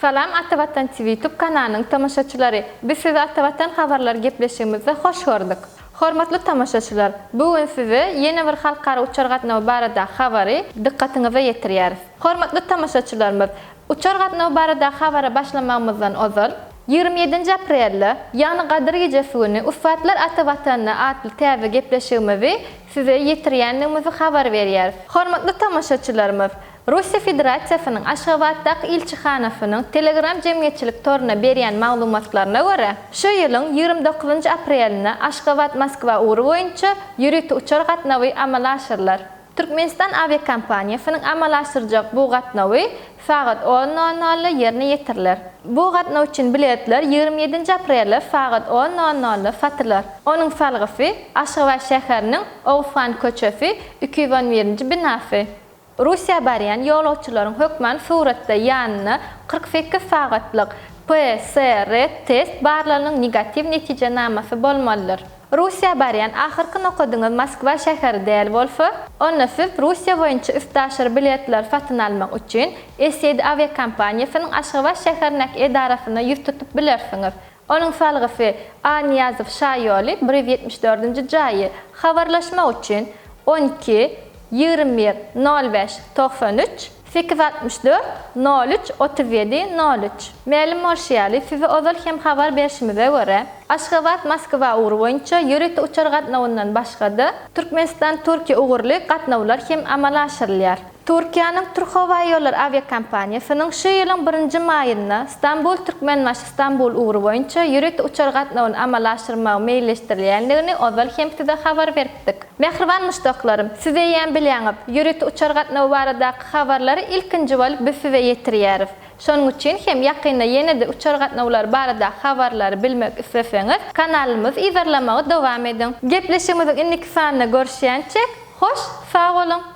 Salam Atavatan TV YouTube kanalynyň tomaşaçylary! Biz sizi Atavatan habarlary gepleşigimizde hoş gördük. Hormatly tomaşaçylar, bu gün size ýene bir halkara uçar gatnawy baradaky habary dykgatyňyza ýetirýäris. Hormatly tomaşaçylarymyz, uçar gatnawy baradaky habara başlamagymyzdan ozal, Ýigrimi ýedinji aprelde, ýagny Gadyr gijesi güni Ussatlar ata Watanda atly täze gepleşigimizi size ýetirýändigimizi habar berýäris. Hormatly tomaşaçylarymyz, Russiýa Federasiýasynyň Aşgabatdaky ilçihanasynyň Telegram jemgyýetçilik toruna berýän maglumatlaryna görä, şu ýylyň ýigrimi dokuzynjy aprelinde Aşgabat-Moskwa ugry boýunça ýörite uçar gatnawy amala aşyrylar. Türkmenistan awiakompaniýasynyň amala aşyrjak bu gatnawy sagat on nol nolda ýerine ýetiriler. Bu gatnaw üçin biletler ýigrimi ýedinji aprelde sagat on nol nolda satylar. Onuň salgysy Aşgabat şäheriniň Oguzhan köçesi iki ýüz on birinji binasy. Russiýa barýan ýolagçylaryň hökman suratda ýanynda kyrk sekiz sagatlyk PSR-test barlagynyň negatiw netijenamasy bolmalydyr. Russiýa barýan ahyrky nokadyňyz Moskwa şäheri däl bolsa, onda siz Russiýa boýunça üstaşyr biletleri satyn almak üçin SED awiakompaniýasynyň Aşgabat şäherindäki edarasyna ýüz tutup bilersiňiz. Onuň salgysy, A. Nyýazow şaýoly, bir ýüz ýetmiş dördünji jaýy, habarlaşmak üçin, on iki, ýigrimi bir, nol bäş, togsan üç. Sekiz altmyş dört, nol üç, otuz ýedi, nol üç. Mälim bolşy ýaly, size ozal hem habar berşimize görä, Aşgabat, Moskwa ugry boýunça ýörite uçar gatnawyndan başga-da, Türkmenistan, Türkiýe ugurly gatnawlar hem amala aşyrylýar. Türkiýäniň Türkhowaýollary awiakompaniýasynyň şu ýylyň birinji maýynda Stambul, Türkmenbaşy, Stambul ugry boýunça ýörite uçar gatnawyny amala aşyrmagy meýilleşdirilýändigini ozal hem size habar beripdik. Mähriban muşdaklarym, siz eýýäm bilýäňiz, ýörite uçar gatnawy baradaky habarlary ilkinji bolup biz size ýetirýäris. Şonuň üçin hem ýakynda ýene-de uçar gatnawlary barada habarlary bilmek isleseňiz, kanalymyzy yzarlamagy dowam ediň. Gepleşigimiziň indiki sanynda görüşýänçäk, hoş sag boluň!